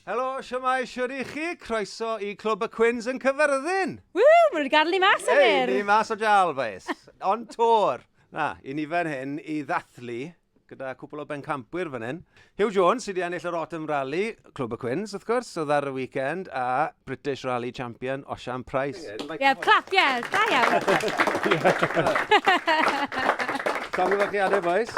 Helo, siamai, siwr i chi, croeso i Clwb y Cwins yn Cyfyrddin! Ww, maen nhw wedi gadw ni mas am hyn! Ei, ni mas o jal, boys. On tour! Na, i ni fan hyn i ddathlu gyda cwpl o bencampwyr fan hyn. Hugh Jones sydd wedi ennill yr Autumn Rally, Clwb y Cwins, wrth gwrs, oedd ar y weekend, a British Rally Champion, Osian Price. Ie, yeah, yeah, clap, ie, yeah, da iawn. Tom, gyda chi adeg, boys?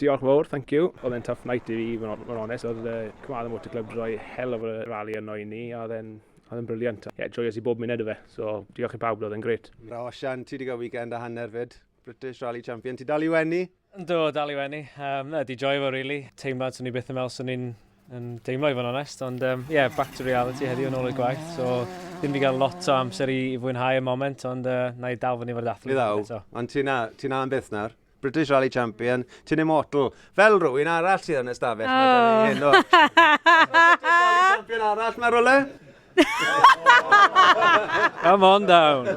Diolch fawr, thank you. Oedd e'n tough night i fi, mae'n onest. Oedd uh, Cymraeg y Motor Club droi hell of a rally yno i ni, a oedd e'n oedd yn briliant. Ie, yeah, joyous i bob munud o fe, so diolch i pawb, oedd e'n gret. Ra, Osian, ti wedi cael weekend a hanner fyd? British Rally Champion. Ti dal i wenni? Do, dal i wenni. Um, na, di joio fo, really. Teimlad, swn i byth yn meddwl swn i'n yn deimlo i fod yn onest, ond um, yeah, back to reality heddiw yn ôl y gwaith, so ddim wedi cael lot o amser i, i fwynhau y moment, ond uh, na i dal fyny fod athlet. Ni ddaw, ond ti'n na, ti na yn byth nawr. British Rally Champion, ti'n immortal. Fel rwy'n arall sydd yn ystafell. Oh. Mae hyn o. British Rally Champion arall, mae rwle? Come on down.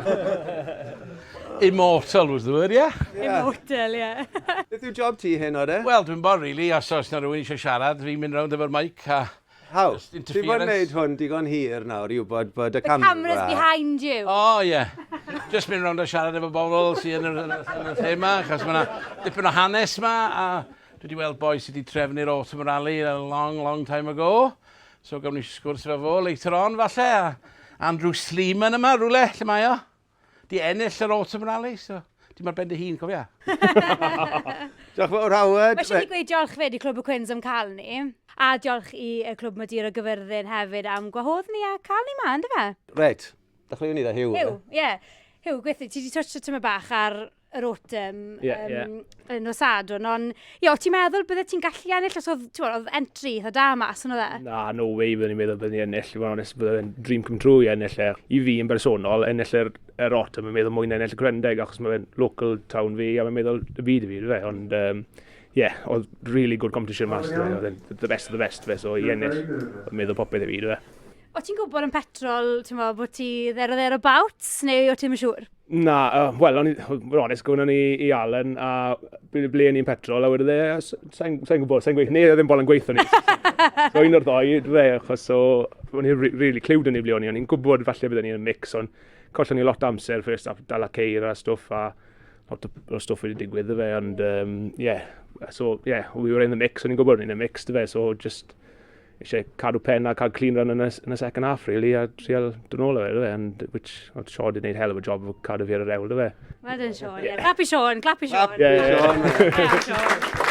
Immortal was the word, yeah? Immortal, yeah. Beth yw job ti hyn o de? Wel, dwi'n bod, really, os oes na rhywun eisiau siarad, fi'n mynd rownd efo'r mic a... How? Ti'n bod wneud hwn digon hir nawr i wybod bod y camera... The camera's behind you. Oh, yeah. Just mynd rownd a siarad efo bobl sy'n yn y thema, achos mae'na dipyn o hanes ma, a dwi wedi weld boi sydd wedi trefnu'r autumn rally a long, long time ago. So gawn ni sgwrs efo fo later on falle, a Andrew Sleeman yma rhywle, lle mae o? Di ennill yr Autumn Rally, so dim ar ben dy hun, cofia. diolch fawr, Howard. Mae eisiau i gweud diolch fyd i Clwb y Cwins am cael ni. A diolch i y Clwb Madeira Gyfyrddin hefyd am gwahodd ni a cael ni ma, ynddo fe? Red. Dechreuwn ni dda, Hugh. Hugh, ie. Yeah. Hugh, gweithio, ti wedi touch o tyma bach ar yr autumn yeah, um, yeah. yn nos adwn, ond ie, o ti'n meddwl bydde ti'n gallu ennill os oedd, ti'n oedd entry eitha da mas yn oedd e? Na, no way byddwn i'n meddwl byddwn i'n ennill, i fod onest, byddwn i'n dream come true i ennill e. I fi yn bersonol, ennill yr, yr autumn, yn meddwl mwyn ennill y Gwrendeg, achos mae'n local town fi, a mae'n meddwl y byd i fi, fe, ond... Um, yeah, oedd really good competition mas, oedd e'n the best of the best, fe, so i ennill, oedd meddwl popeth i fi, dwi. O ti'n gwybod yn petrol, ti'n meddwl bod ti there or thereabouts, neu o ti'n siŵr? Na, uh, wel, o'n i'n onest, gwn o'n i i Allen a ble, ble ni'n petrol, a wedi dde, sa'n sa gwybod, sa'n gweithio, neu e ddim bol yn gweithio ni. so un o'r ddoi, dde, achos so, o'n i'n really clywed yn ei ble o'n i, o'n i'n gwybod falle byddwn ni'n mix, ond collon ni lot amser, ffyrst a dal a ceir a stwff, a lot o stwff wedi digwydd, dde, ond, um, yeah, so, yeah, we were in the mix, o'n i'n gwybod o'n i'n y mix, dde, so just, eisiau cadw pen a cael clean run yn y, yn y second half, really, a trial dyn ôl o fe, dwi, and which, oedd Sean wedi gwneud hell of a job o cadw fi ar y rewl, dwi. Well done, Sean. Yeah. Clap i Sean, clap i Sean. Clap i Sean. Yeah, Sean.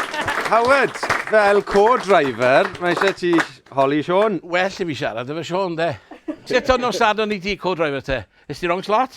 Howard, fel co-driver, mae eisiau ti holi Sean. Well i fi siarad efo Sean, de. Sut o'n nos sadwn i ti co-driver te? Ys ti wrong slot?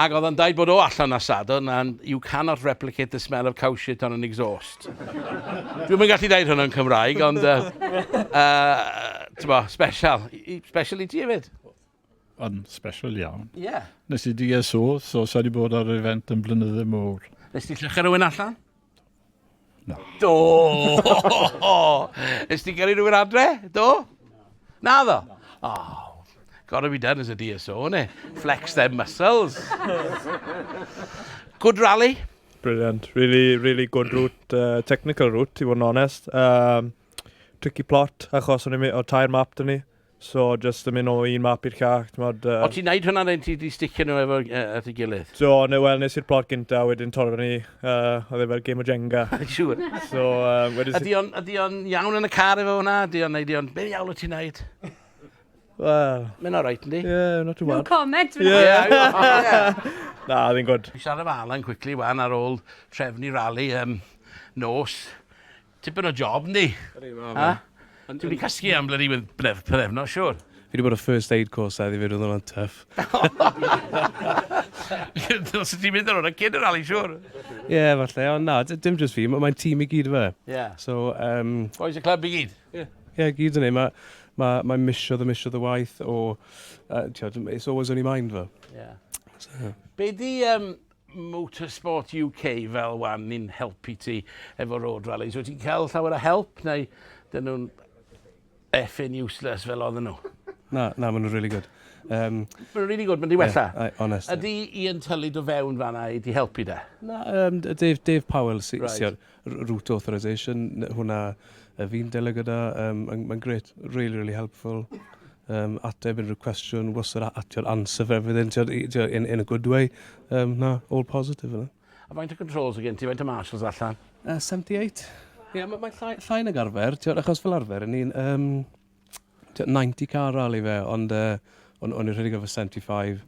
Ac oedd o'n dweud bod o allan ar Sadwrn and you cannot replicate the smell of cow shit on an exhaust. Dwi'm yn gallu dweud hwnna'n Cymraeg ond yy yy t'bo' special. Special i ti efyd. Yn special iawn. Ie. Nes i DSO so sai 'di bod ar yr event yn flynydde mowr. Nes ti lluchio rywun allan? Na. Do! Ys ti'n cael ei rhywun adre? Do? Na ddo? Oh, gotta be done as a DSO, ne? Flex them muscles. Good rally. Brilliant. Really, really good route, uh, technical route, i fod yn onest. Um, tricky plot, achos o'n i'n mynd o tair map dyn ni. So jyst yn mynd o un map i'r llall, t'mod yy. O ti'n neud hwnna then ti 'di sticio nhw efo yy at ei gilydd? Do, ne- wel nes i'r plot gynta a wedyn torro fyny, yy oedd e fel gêm o Jenga. Siŵr. So yy wedyn s- Ydy o'n ydy o'n iawn yn y car efo hwnna? Ydy o'n neud i o'n, be ddiawl wyt ti'n neud? Wel. Mae'n alright yndi? Ie, not too bad. No comment fan hyn. Ie. Na, oedd e'n gwd. Siarad efo Alan quickly wan ar ôl trefnu rali yym nos Tipyn o job, yndi? Yndi, ma' fe. Dwi 'di casglu am blydi pythefnos, siŵr. Fi 'di bod ar first aid course heddi 'fyd, oedd hwnna'n tuff. Ddylse ti'n mynd ar hwnna cyn y rali, siŵr. Ie, falle, ond na, dim jyst fi, mae'n tîm i gyd, ife? Ie. So, yym... Bois y clwb i gyd? Ie. Ie, i gyd yn ei. Mae'n misio dy misio dy waith o... It's always on your mind, fel. Ie. So... Be 'di Motorsport UK fel wan ni'n helpu ti efo road rallies. Wyt ti'n cael llawer o help neu dyn nhw'n effin useless fel oedden nhw? Na, na, maen nhw'n really good. Um, maen nhw'n really good, maen nhw'n wella. Yeah, honest. Ydy Ian Tully do fewn fanna i di helpu da? Na, um, Dave, Dave Powell, si, right. siwr. Route authorisation, hwnna fi'n delio gyda, mae'n grêt, rili, rili helpful. Um, ateb unrhyw cwestiwn, wastad atio'r answer for everything, in, in a good way. Um, na, all positive yna. A faint o controls y gen ti, faint o marshals allan? Uh, 78. Ie, yeah, mae'n llai, llai nag arfer, achos fel arfer, yn ni'n... Um, tua 90 car rali fe, ond uh, o'n, on i'n rhedeg efo 75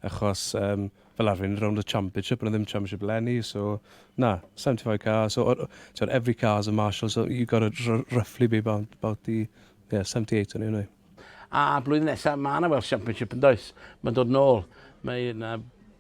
achos um, fel arfer yn rownd y championship, ond ddim championship lenni, so na, 75 car, so or, so every car is a marshal, so you got it roughly be about, about the yeah, 78 o'n i'n A blwyddyn nesaf, mae yna Welsh Championship yn does, mae'n dod nôl, mae yna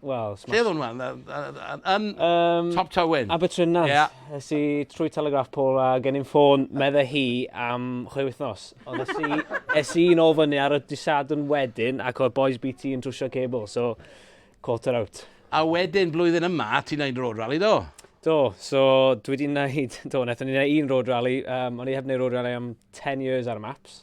Wel, smash. Lle oedd hwnna? Yn um, Top Tywyn. Abertrynant. Yeah. Es i trwy Telegraph Pole a gen i'n ffôn medde hi am chwe wythnos. Ond es i, es i'n ôl fyny ar y disadwn wedyn ac oedd Boys BT yn trwsio cable, so quarter out. A wedyn blwyddyn yma, ti'n neud road rally do? Do, so dwi wedi neud, do, nethon ni'n neud un road rally, um, o'n i heb neud road rally am 10 years ar y maps.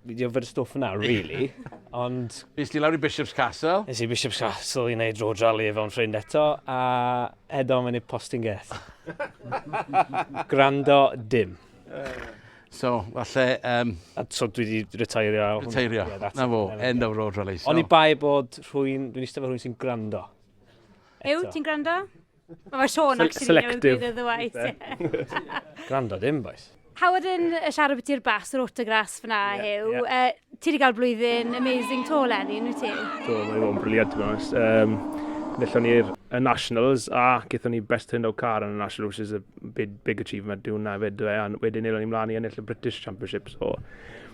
Fi wedi yfed y stwff yna, really. Ond... Nes ti lawr i Bishop's Castle? Nes i Bishop's Castle i wneud road rally efo yn ffrind eto, a edo mae'n ei postyn geth. Grando dim. So, falle... Um... A so dwi wedi retairio. Retairio, yeah, na fo, end of road rally. So. Oni bai bod rhywun, dwi'n eistedd fo rhywun sy'n grando. Ew, ti'n grando? Mae Sean Sel- actually selective. yn ddweud y ddweud. Gwrando dim, boys. Howard yn siarad beth i'r bas, yr autograss fyna, yeah, Huw. Yeah. Uh, ti wedi cael blwyddyn amazing to, Lenny, yn wyt ti? Do, mae wedi bod yn briliant, ti'n gwrs. Um, Nethon ni'r Nationals a gyda ni Best Turned Out Car yn y National, which is a big, big achievement dwi'n na fyd. A wedyn nilon ni mlaen i ennill y British Championship, so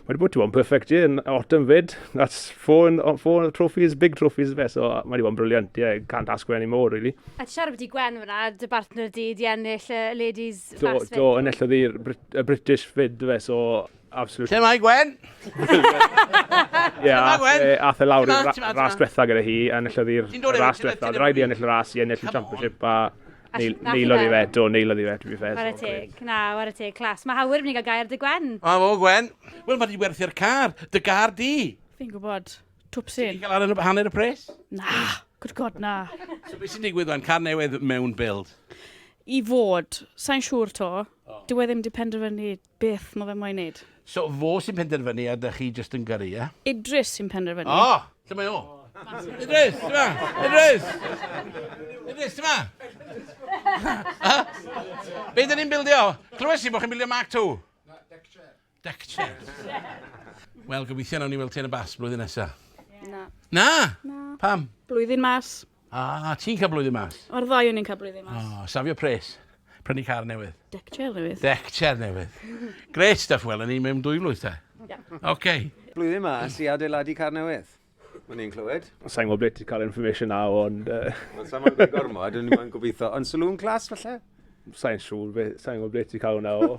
Mae wedi bod, ti'n bod, yn perfect year, yn autumn fyd. That's four, in, four trophies, big trophies fe, so mae wedi bod yn briliant, yeah, can't ask for any more, really. A ti siarad beth i Gwen fyna, dy bartner di, di ennill y ladies do, fast fyd? Do, enillodd i'r y British fyd fe, so absolutely. Lle mae Gwen? Ie, ath e lawr i'r ras diwetha gyda hi, enillodd i'r ras diwetha. Rhaid i ennill y ras i ennill y championship, a Neil, Neil oedd i fe, do, Neil oedd i fe, dwi'n feddwl. Wara teg, na, wara teg, clas. Mae Hawir yn mynd i gael gair dy Gwen. A fo, Gwen. Wel, mae di werthu'r car, dy gar di. Fi'n gwybod, twpsyn. Ti'n cael ar y hanner y pres? Na, good god, na. So beth sy'n digwydd fan, car newydd mewn build? I fod, sa'n siŵr to. Oh. Dyw e ddim di penderfynu Beth ma fe moyn neud? So fo sy'n penderfynu a dych chi jyst yn gyrru, ie? Idris sy'n penderfynu. O! Lle mae o? Idris! Ti 'ma? Idris! Idris, ti 'ma? Be dyn ni'n bildio? Clywes i bod chi'n bildio Mark Two. Na, deck chair. Deck chair. Wel, gobeithio nawn ni weld ti yn y bas blwyddyn nesa. Na. Na? Na. Pam? Blwyddyn mas. Ah, ti'n cael blwyddyn mas? Mae'r ddau o ni'n cael blwyddyn mas. Oh, safio pres. Prynu car newydd. Deck chair newydd. Deck chair newydd. Great stuff, wel, yn ni mewn dwy flwydd te. Yeah. Okay. Blwyddyn mas i adeiladu car newydd. Mae'n i'n clywed. Sa'n gwybod beth ti'n cael information na, ond... Uh... Sa'n gwybod gormod, ond ni'n gobeithio. Ond saloon class, falle? Sa'n siŵr, fe, sa'n gwybod beth ti'n cael hwnna o.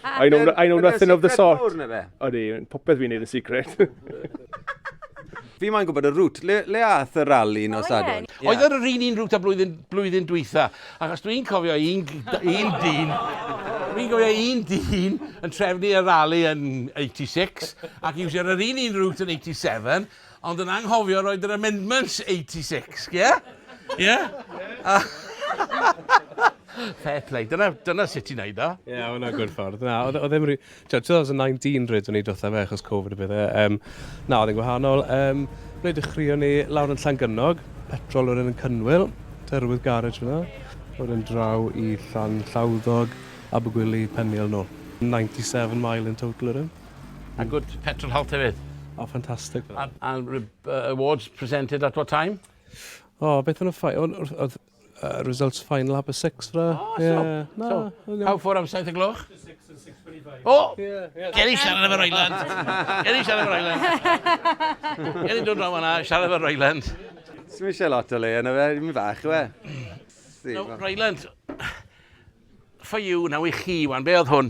I know, I know nothing of the sort. Ydy, popeth fi'n neud yn secret. Fi mae'n gwybod y rŵt. Le, le ath y rali yn os adwn? Yeah. Oedd yr un un rŵt a blwyddyn, blwyddyn dwytha. Ac os dwi'n cofio un, un dyn... Dwi'n cofio un dyn yn trefnu y rali yn 86 ac i wsio'r yr un un rŵt yn 87 Ond yn anghofio roid yr amendments 86, ie? Ie? Fair play. Dyna, dyna sut ti'n neud o. Ie, yeah, hwnna gwrdd ffordd. Na, oedd e ddim rhi... 2019 rhaid o'n i dotha fe achos Covid y bydde. Um, na, oedd e'n gwahanol. Um, Ble dechreuon ni lawr yn Llangynnog, petrol oedd yn Cynwyl, terwydd garage fyna. Oedd yn draw i Llan Llawddog, Abergwili, Peniel nôl. 97 mile in total yr un. A good petrol health hefyd. O fantastic. A, a uh, awards presented at what time? O, oh, beth yn y ffai? Oedd uh, results final half past six fra. Oh, so, yeah. no, so, no. how far am saith y gloch? O! Oh, yeah, yeah. Geri siarad efo'r Island. Geri siarad efo'r Island. Geri dod draw fanna, siarad efo'r Island. Swn mi eisiau lot o le yna fe, mi fach yw e. No, Ryland, for you, now i chi, wan, be oedd hwn?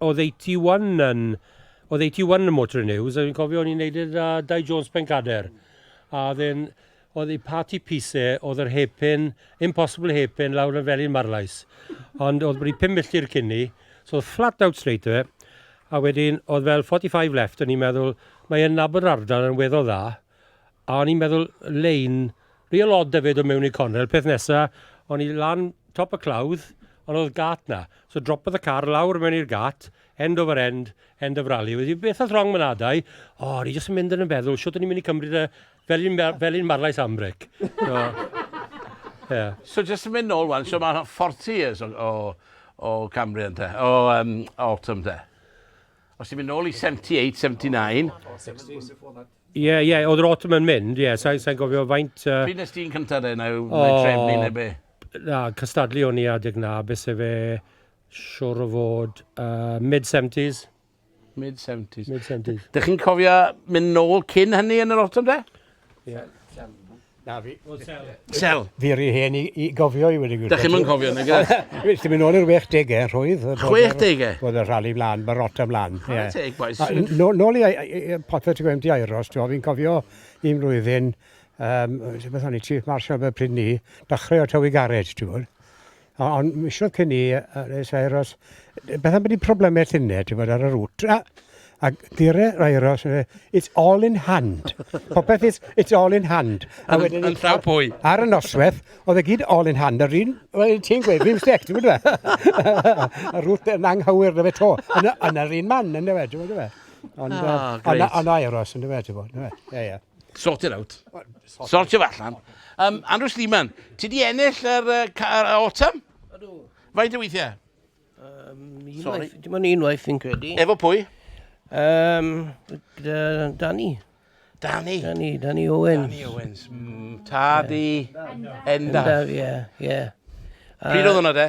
Oddeutu Iwan yn... Oddeutu Iwan yn Motoring News, a fi'n cofio o'n i'n neud e 'da Dai Jones Pencader. A oedd e'n... oedd ei parti piece e oedd yr hairpin, impossible hairpin lawr yn Felin Marlais. Ond oedd wedi pum milltir cyn 'ny, so oedd flat out straight 'da fe. A wedyn oedd fel 45 left, o'n i'n meddwl, mae e'n nabod yr ardal yn weddol dda. A o'n i'n meddwl lein real odd Dyfed o mewn i'r cornel, peth nesa, o'n i lan top y clawdd, ond oedd gât na. So dropodd y car lawr mewn i'r gât, end over end, end of rally. Wedi, beth oedd wrong man adau? O, oh, ni jyst yn mynd yn y feddwl, siwt o'n i'n mynd i cymryd y felin, felin marlais ambric. So, yeah. so jyst yn mynd nôl wan, so mae'n 40 years o, o, o Cambrian te, o um, Autumn te. Os ti'n mynd nôl i 78, 79. Ie, ie, oedd yr autumn yn mynd, ie, sa'n sa gofio faint... Uh... Pryd nes ti'n cyntaf de, neu oh, mae trefnu neu be? Na, cystadlu o'n i adeg na, beth se fe siwr o fod uh, mid-70s. Mid-70s. Mid-70s. Dych chi'n cofio mynd nôl cyn hynny yn yr autumn de? Fel, fel. Na fi. O, sel. Sel. Fi rhy hen i, i gofio i wedi gwybod. Da chi'n mynd cofio, neu gyda? Ti'n mynd ôl i'r 60au, rhwydd. 60au? Oedd y rhali mlaen, mae rot am lan. Chwarae yeah. teg, boys. Nôl i Potter, ti'n gwybod, di Airos, ti'n fi'n cofio un mlwyddyn, um, beth o'n i, Chief Marshal fe pryd ni, dachrau o Tywi Garej, ti'n gwybod. O, ond misoedd cyn i, Res Aeros, beth am bod ni'n problemau llunau, ti'n bod, ar y rŵt. A, a gyrre Aeros, it's all in hand. Popeth, it's, it's all in hand. A wedyn... Yn llaw pwy? Ar y noswaith, oedd e gyd all in hand, yr un, wel, ti'n gweud, fi'n stec, ti'n bod fe? Y rŵt yn anghywir na fe to. Yn yr un man, yn dweud, ti'n bod fe? Ond, oh, ond, ond aeros, yn dweud, ti'n bod, ti'n bod, ie, ie. Sort it out. Sortio fe allan. Um, Andrew Sleeman, ti di ennill yr uh, uh, autumn? Ydw. Faint o weithiau? Um, Sorry. Dim ond unwaith fi'n credu. Efo pwy? Um, Danny. Danny? Danny, Danny Owens. Danny Owens. Mm, tad i Endaf. Endaf, ie, ie. Pryd oedd hwnna de?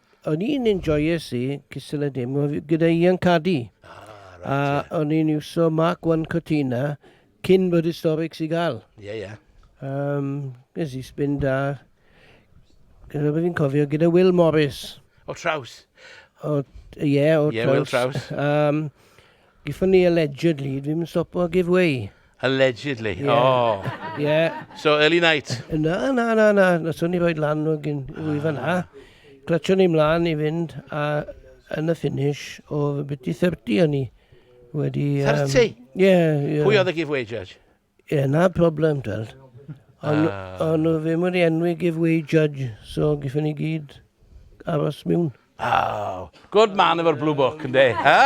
O'n i'n enjoyes i cystal y dim gyda Ian Caddy. Ah, a o'n i'n iwso Mark 1 Cortina cyn bod historics i gael. Ie, yeah, ie. Yeah. Um, Nes i spin da. Gyda beth fi'n cofio, gyda Will Morris. O traws. O, ie, yeah, o traws. Ie, yeah, Will traws. Um, Gifon ni allegedly, dwi'm yn stopo o give way. Allegedly, yeah. oh. Yeah. So, early night? Na, na, na, na. Nathon ni roed lan o gyn ah. wyfa na. Clatio ni mlaen i fynd, a yn y finish o byti 30 o'n i. Wedi... 30? Ie, um, ie. Yeah, yeah. Pwy oedd y give way, Judge? Ie, na problem, twel. Ond Ah. on nhw ddim wedi enwi giveaway judge, so giffen ni gyd aros miwn. Oh, good man efo'r Blue Book, ynddi? Ha?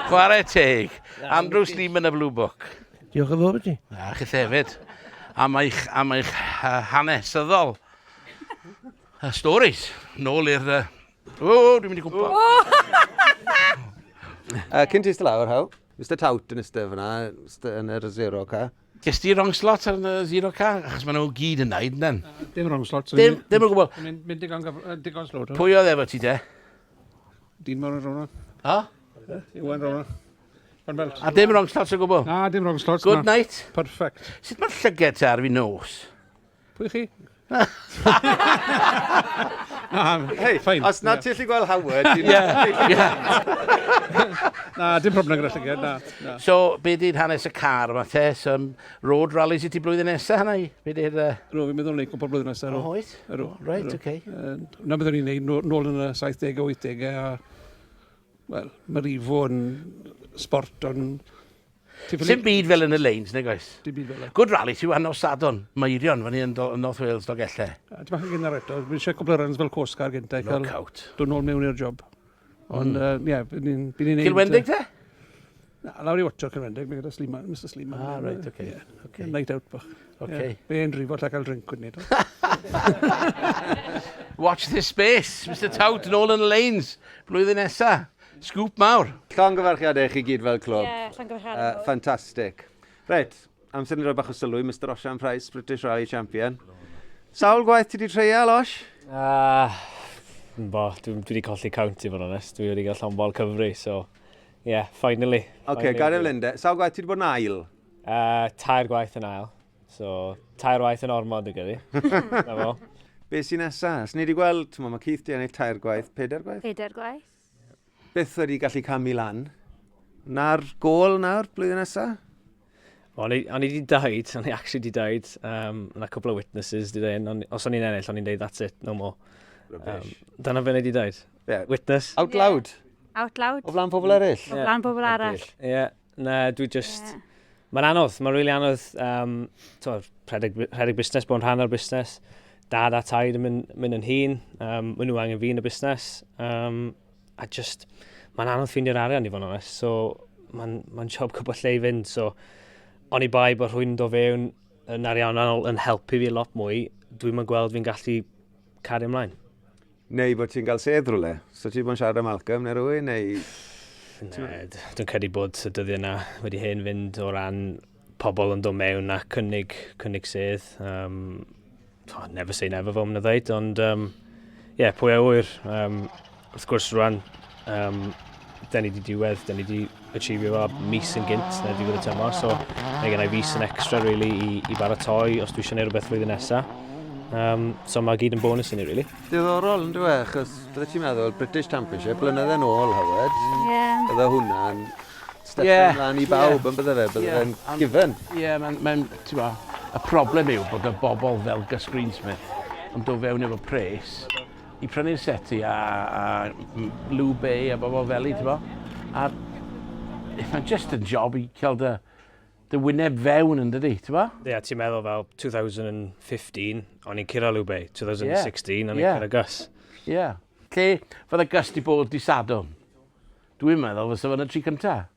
Chwarae teg. Andrew Sleeman y Blue Book. Diolch yn fawr i ti. A chi hefyd. Am eich, am eich uh, hanesyddol. Uh, stories. Nôl i'r... Uh... O, dwi'n mynd i gwmpa. Uh, cyn ti ystod lawr, how? Mister Tout yn iste fyna, iste yn yr zero car. Ges ti wrong slot ar y zero car? Achos maen nhw gyd yn naid, nen? Dim wrong slot. Dim, dim o gwbl. Mynd digon, digon slot. Pwy oedd efo ti te? Dyn mor yn rhywna. Ha? Iwan rhywna. A dim wrong slot o gwbl? Na, dim wrong slot. Good night. Perfect. Sut mae'r llyged te ar fi nos? Pwy chi? Hei, fine. Os nad ti'n lli gweld Howard, ti'n Na, dim problem gyda llyged, na, na. So, be di'n hanes y car yma te? So, um, road rallies i ti blwyddyn nesaf hynna i? Be di'r... Uh... Rwy'n fi'n meddwl neud cwpl blwyddyn nesaf. O, oes? Yrw. Right, oce. Okay. Uh, na beth o'n i'n neud nôl yn y 70au, 80au, a... Wel, mae rifo yn sport o'n Sim byd fel yn y lanes, nag oes? Dim byd fel e. Good rally, ti wan nos Sadwrn, Meirion, fan hyn yn North Wales, Dolgellau. A ti'n bach yn gynnar eto, fi eisiau cwbl o runs fel Coast Guard gyntaf. No cael Dwi'n ôl mewn i'r job. Ond, mm. ie, bydd ni'n neud... Cilwendig te? Na, lawr i watcho Cilwendig, mae gyda Sliman, Mr Sliman. Ah, right, oce. Okay. Yeah. Okay. Night out bach. Oce. Okay. Yeah. Be'n rifo lle cael drink wedyn eto. Watch this space, Mr Tout, yn ôl yn y lanes, blwyddyn nesaf. Sgŵp mawr! Llongyfarchiadau i chi gyd fel clwb. Ie, llongyfarchiadau mawr. Yy, ffantastig. Reit, amser i ni roi bach o sylw i Mister Osian Price, British Rally Champion. Sawl gwaith ti wedi treial, Osh? Ah, bo, dwi wedi colli count i fod yn onest. Dwi wedi gael llon bol Cymru, so, ie, yeah, finally. Oce, okay, gadael Linde. Sawl gwaith ti wedi bod yn ail? Uh, tair gwaith yn ail. So, tair waith yn ormod y gydi. Na fo. Be sy'n nesa? Os ni wedi gweld, mae Keith di ennill tair gwaith, pedair gwaith? Pedair gwaith. Beth wedi gallu camu lan? Na'r gol nawr, blwyddyn nesa? O'n i wedi dweud, o'n i actually wedi dweud, um, yna cwbl o witnesses wedi dweud, os o'n i'n ennill, o'n i'n dweud, that's it, no more. Um, dyna fe wedi dweud. Yeah. Witness. Out loud. Yeah. Out loud. O flan pobl eraill. Yeah. O flan pobl arall. Ie. Yeah. Na, dwi just... Yeah. Mae'n anodd, mae'n rili really anodd. Um, to, rhedeg, rhedeg busnes, bod yn rhan o'r busnes. Dad a taid yn mynd, mynd yn hun. Um, Mae nhw angen fi yn y busnes. Um, a just, mae'n anodd ffeindio'r arian i fod yn onest. So, mae'n ma job cwbl lle i fynd. So, o'n i bai bod rhywun do fewn yn ariannol yn helpu fi lot mwy, dwi'n mynd gweld fi'n gallu cario ymlaen. Neu bod ti'n cael sedd rhywle. So ti bod yn siarad am Malcolm neu rhywun neu... Na, dwi'n credu bod y dyddiau yna wedi hen fynd o ran pobl yn dod mewn a cynnig, cynnig sedd. Um, oh, never say never fel mae'n dweud, ond um, yeah, pwy a wyr. Um, wrth gwrs rwan, um, da ni wedi diwedd, da ni wedi achievio fo mis yn gynt na diwedd y tymor, so mae gen i fis yn extra really i, i baratoi os dwi eisiau gwneud rhywbeth flwyddyn nesa. Um, so mae gyd yn bonus i ni, really. Diddorol yn dweud, achos bydde ti'n meddwl British Championship, blynedd yn ôl, Howard, yeah. bydde hwnna'n step yeah. ymlaen i bawb, yeah. yn bydde fe, bydde yeah. fe'n given. Ie, yeah, mae'n, ma ti'n ma, y problem yw bod y bobl fel Gus Greensmith yn dod fewn efo pres, i prynu'r seti a, a Blue Bay a bobl fel i, ti'n bo? A mae'n just yn job i cael dy, dy wyneb fewn yn dydy, ti'n bo? Ie, yeah, ti'n meddwl fel 2015, o'n i'n cyrra Blue Bay, 2016, yeah. o'n i'n yeah. cyrra Gus. Ie. Yeah. Lle fydde Gus di bod di sadwn? Dwi'n meddwl fysa fo'n y tri cyntaf.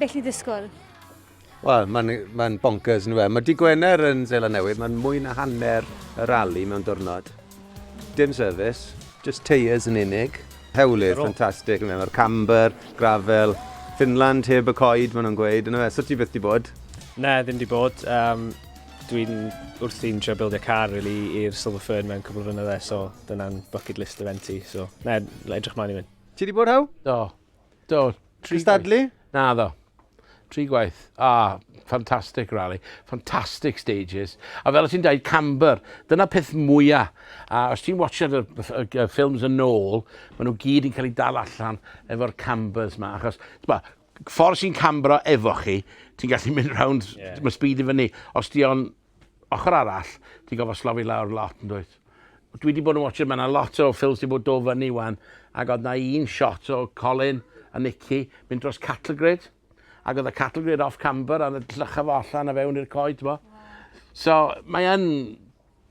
Beth i ddisgwyl? Wel, mae'n ma bonkers, nhw fe. Mae di Gwener yn Zela Newydd, mae'n mwy na hanner y rali mewn diwrnod. Dim service, just tyres yn unig. Hewlydd, ffantastig. Mae'r camber, gravel, Finland heb y coed, maen nhw'n gweud. Yna fe, sut ti byth di bod? Na, ddim di bod. Um, dwi'n wrthi'n trio bildio car really, i'r Silver Fern mewn cwbl o fynydde, so dyna'n bucket list event i. So, na, edrych mlaen i fynd. Ti di bod, Hew? Do. Do, tri Cystadlu? Gwaith. Na ddo. Tri gwaith. Ah, fantastic rally, fantastic stages. A fel o ti'n dweud, camber, dyna peth mwyaf. A os ti'n watchad y, y, y ffilms yn ôl, maen nhw gyd yn cael ei dal allan efo'r cambers ma. Achos, ma, ffordd sy'n cambro efo chi, ti'n gallu mynd round, yeah. mae speed i fyny. Os di o'n Ochr arall, ti'n gorfod slofi lawr lot, yn dwyt? Dwi wedi bod yn watcher, mae yna lot o ffilms wedi bod do fyny wan, ac oedd yna un shot o Colin a Nicky mynd dros cattle grid, ac oedd y cattle grid off camber, a llycha fo allan a fewn i'r coed, ti'n bod? So, mae yn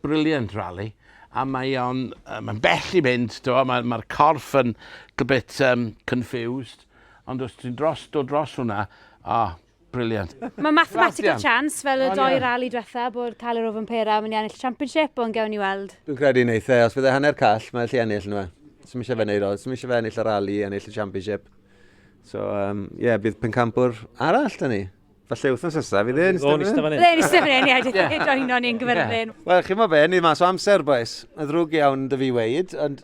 brilliant rally, a mae o'n, mae'n bell i mynd, ti'n bod, mae'r mae corff yn a bit um, confused, ond os ti'n dros, do dros hwnna, oh, Brilliant. Mae mathematical chance fel y doi rali diwetha bod cael yr ofn pera yn mynd i ennill y championship, ond gewn ni weld. Dwi'n credu wneith e, os fydd e hanner call, mae e allu ennill nhw e. Sym eisiau fe wneud o, sym eisiau fe ennill y rali, ennill y championship. So, ie, um, yeah, bydd pencampwr arall da ni. Falle wythnos nesaf, fydd e'n ystafell yn? Bydd e'n ystafell yn, ie, dwi'n yeah. joino ni'n gyferfyn. Wel, chi'n mo be, ni mas o amser, boes. Mae'n ddrwg iawn dy fi weid, ond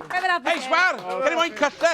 Hei, sgwar! Can i moyn cyll, de?